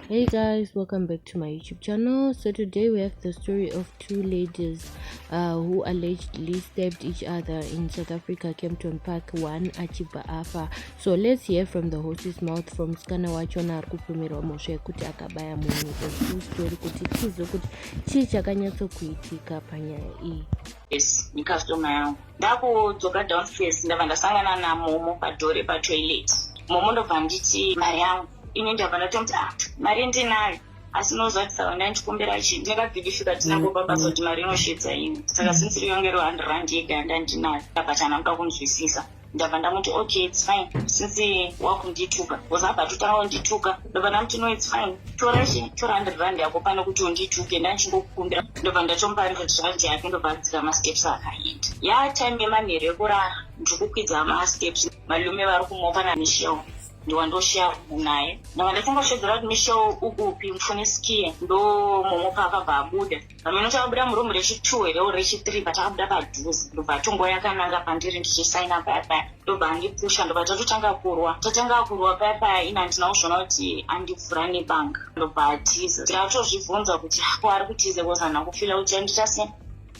hey guys welcome back to my youtube channel so today we have the story of two ladies uh, who allegedly stabbed each other in south africa campton park one achibva afa so let's hear from the horse's mouth from skana wachona ari kupomerwa mhosva yekuti akabaya munhu the story kuti tizo kuti chii chakanyatsokuitika panyaya iyi yes ndikastoma yangu ndakudzoka downstairs ndava ndasangana namomo padoor repatoilet momo ndobva nditi mari yangu ini ndabva ndatomuti ah mari ndinayo asi unoziva kuti saka ndandikumbira chi ndakabhidifika tinangopa basa kuti mari inosvitsa ini saka since riyonge ro hundred rand yega yandandinayo ndabva chanamka kunzwisisa ndabva ndamuti okay its fine since wakundituka bcause abva totanga kundituka ndobva ndamuti no its fine tora tora hundred rand yako pane kuti undituke ndandichingokukumbira ndobva ndatomupa hundred rand yake ndobva adzika masteps akaenda ya time yemanheru ekurara ndiri kukwidza masteps malume vari kumopa namishewo ndiwandosheya kubu naye ndava ndachingoshedzera kuti mishewo ukupi mfune skie ndomomopa akabva abuda Hameno takabuda muroom rechitu here or rechithree but takabuda padhuze ndobva tongo yakananga pandiri ndichisaina paya paya ndobva andipusha ndobva tatotanga kurwa tatanga kurwa paya paya ini handina kuzviona kuti andivhura nebanga ndobva atiza ndikatozvibvunza kuti ko ari kutiza bcause handina kufila kuti andita sei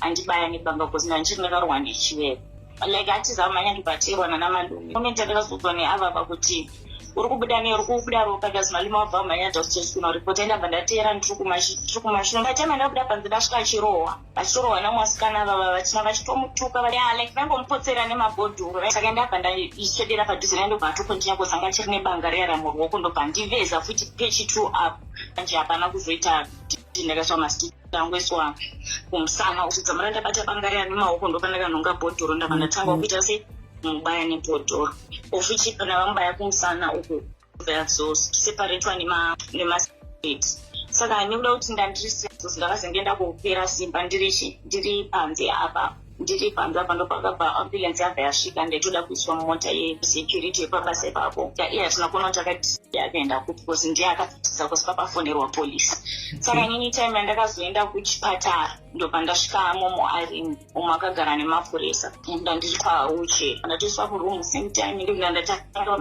andibaya nebanga bcause ndandichiri ndakarwa nechivepo like atiza manya ndibatirwa nana malume ume ndandakazodzwa neavava kuti uri kubuda ne uri kubuda ropa because malume wabva manya just kuno report enda bva ndateera ndiri kumashure by time ndakuda panze ndasvika achirohwa vachitorohwa namwasikana vava vachina vachitomutuka vaya like vangomupotsera nemabhodhuru saka ndabva ndaisvedera padhuze naye ndobva atokontinya kozi anga chiri nebanga reyara muruoko ndobva ndiveza futi pechi two up anje hapana kuzoita ndakatsva mastik ndangweswa kumusana uchidzamara ndabata banga riya nemaoko ndopa ndakanhonga bhodhoro ndava ndatanga kuita se mubaya nebhodhoro ofichi kana vamubaya kumusana uku vazoseparetwa nemastate saka nekuda kuti ndandirisizos ndakazenge ndakupera simba ndiri panze apa ndiri panze apa ndopakabva ambulance yabva yasvika ndaitoda kuiswa mumota yesecurity yepabasa ipapo taiye hatina kuona kuti akatisiya akaenda kupi bcause ndiye akatitisa kusi pakafonerwa police saka nyini time yandakazoenda kuchipatara ndobva ndasvika momo ari umwe akagara nemapurisa nda ndiri kwauche ndatoiswa kuroom same time ndikunda ndatanga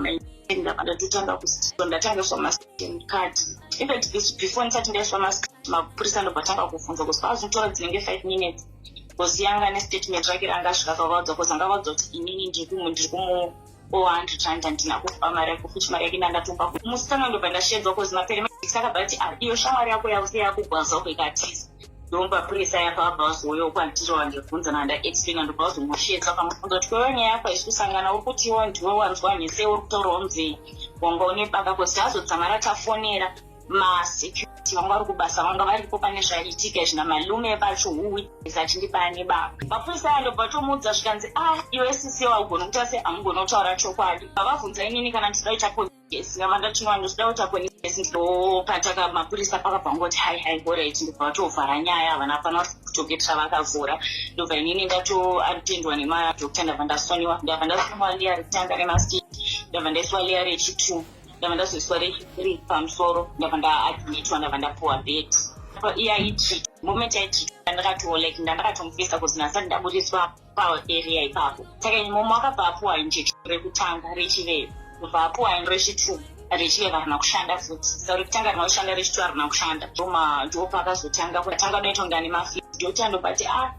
ndabva ndatotanga kusto ndatangiswa mastem card even before ndisati ndaiswa mas mapurisa ndobva tanga kuvhunza kusi pazotora dzinenge five minutes because yanga nestatement rake ranga asvika pavaudza bcause anga vaudza kuti inini ndikumu ndiri kumu owa hundred rand handina kupa mari yako futi mari yake ndandatumba musikana ndobva ndashedzwa bcause mapere saka bati ah, iyo shamwari yako yavuse yakugwaza uko ikatiza ndomba purisa yako abva vazoyo kwandiro wandibvunza nanda explaina ndobva vazomushetsa pamufunza kuti kwewe nyaya yako haisi kusangana uri kutiwo ndiwe wanzwa nhese uri kutorowo mzei wanga une baka bcause tazodzamara tafonera masecurity vanga vari kubasa vanga varipo pane zvaiitika izvi namalume vacho huwitness achindibaya nebaba mapurisa aya ndobva tomuudza zvikanzi a ah, iwe sisi waugona kuita se hamugona kutaura chokwadi vavabvunza inini kana ndichida kuita police ngava ndatinwa ndochida kuita police ndopataka mapurisa pakabva ngoti hai hai horit ndobva vatovhara nyaya havana hapana kutoketira vakavhura ndobva inini ndatoatendwa nemadokta ndabva ndasoniwa ndabva ndasoniwa liya rekutanga nemasti ndabva ndaiswa liya rechitu ndava ndazoiswa rechipiri pamusoro ndava ndaadmitwa ndava ndapuwa bed iya itri moment yaitri ndandakatiwo like ndandakatomufisa kuti nasati ndaburiswa paarea ipapo saka imomo akabva apuwa injection rekutanga rechivee kubva apuwa in rechitu rechiveve harina kushanda futi sa rekutanga harina kushanda rechitu harina kushanda ndoma ndopa akazotanga kuatanga doita kunga nemafi ndoti andobati a ah,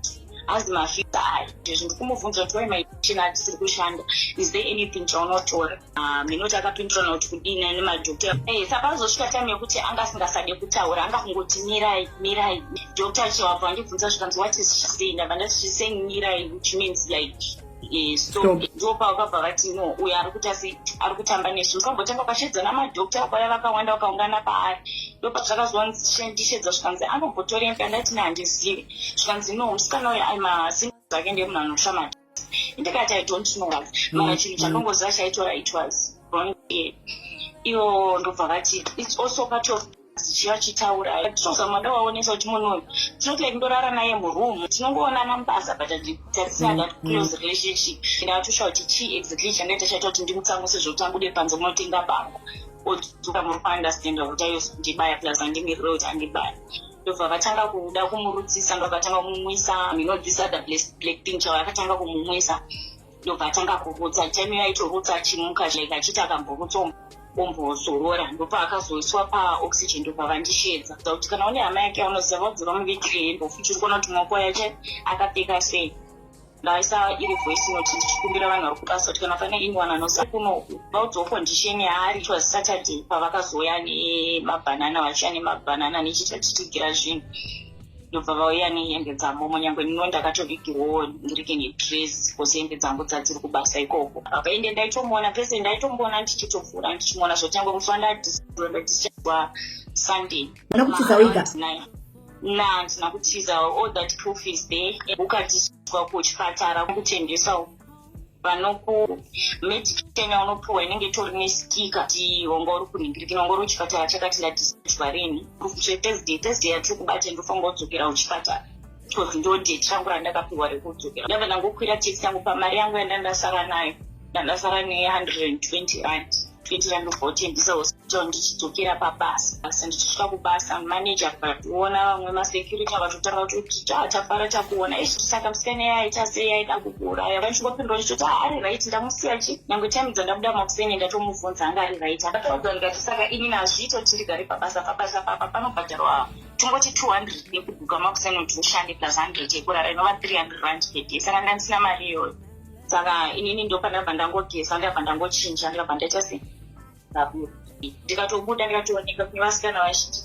hazi mafisa aya ndizvi ndikumubvunza kuti wai maichina atisiri kushanda is there anything chaunotora Ah, minoti akapindurana kuti kudini ane madhokta eh, sapazosvika time yekuti anga asingasade kutaura anga kungoti mirai mirai dhokta achiwabva andibvunza zvikanzi what is she saying ndabva ndati she saying mirai which means like eh, so ndo pavakabva vati no uyo ari kuita sei ari kutamba nesu mukambotanga ukashedzana madhokta akwaya vakawanda vakaungana paari ndo pazvakazondishedza zvikanzi anombotorei ndandati nehandizivi zvikanzi no musikana uyo aimasinzake ndemunhu anoshamata ndikati i don't know what mm, mara chinhu mm. chanongoziva chaitora it was wrong ear iyo ndobva vati its also part of chiya chitaura tinozama mada waonesa kuti munhu uyu tinoti like ndorara naye muroom tinongoonana mubasa but tarisina that mm, close relationship and atosha kuti chii exactly chandaita chaita kuti ndimutsamuse zvokuti abude panze munotenga bango odzoka muri kuunderstanda kuti ayo ndibaya plus andimirira kuti andibaya ndobva vatanga kuda kumurudzisa ndobva vatanga kumumwisa you know this other black thing chava akatanga kumumwisa ndobva atanga kurutsa time iyo aitorutsa achimuka like achiita akamborutsa ombozorora ndopaakazoiswa paoxygen ndopavandisheedza za kuti kana une hama yake anoziva vaudzira muvigirei mbofuti uri kuona kuti maoko yake akapfeka sei ndaisa iri voice note ndichikumbira vanhu vari kubasa kuti kana pane anyone anoziva kunoku vaudzawo condition yaari it was saturday pavakazouya nemabhanana vachiya nemabhanana nechitatitigera zvinhu ndobva vauya nehembe dzamomo nyange ndino ndakatovigirwawo ndirike nedress bcause hembe dzangu dzadziri kubasa ikoko apa ende ndaitomuona pese ndaitomboona ndichitovhura ndichimuona zvotangwe kufa ndadiswa sunday nokutiza wega na handina kutiza all that proof is there ukatiswa kuchipatara kutengeswa vanokumedication yaunopiwa inenge itori nesikika ti wanga uri kuningirikina wanga uri kuchipatara chakati ndadiswa rini proof zve thursday thursday yatiri kubate ndofanga udzokera kuchipatara because ndo date rangu randakapiwa rekudzokera ndava ndangokwira taxi yangu pamari yangu yandandasara nayo ndandasara ne 120 rand 20 rand ndobva utendisa ndicho ndichidzokera pabasa asi ndichisvika kubasa maneja akationa vamwe masecurity vakatotanga kuti ah, tafara takuona izvi saka musikana iye aita sei aida kukuuraya vachingopindwa ndichoti ah, ari right ndamusiya chi nyange time dzandabuda makuseni ndatomubvunza anga ari right akataudza ndikati saka ini nazviito tindigare pabasa pabasa papa panobhadharwa tingoti 200 yekubuka makuseni kuti ushande plus 100 yekurara inova 300 rand per day saka ndandisina mari iyoyo saka inini ndopandabva ndangogeza ndabva ndangochinja ndabva ndaita sei saburi ndikatobuda ndikatooneka kune vasikana vazhinji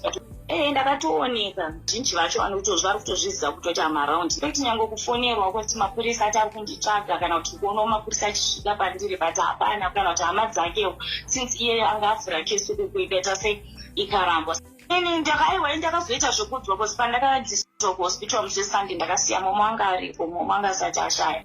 ee ndakatooneka zhinji vacho vanotozvi vari kutozviziva kutoita maround fekt nyange kufonerwa kuti mapurisa ati ari kunditsvaga kana kuti kuonawo mapurisa achisvika pandiri but hapana kana kuti hama dzakewo since iyeyo anga avhura kesi kuku ikaita sei ikarambwa ini ndakaiwa ini ndakazoita zvekudzwa bcause pandakadiswa kuhospital musi wesunday ndakasiya momo anga aripo momo anga asati ashaya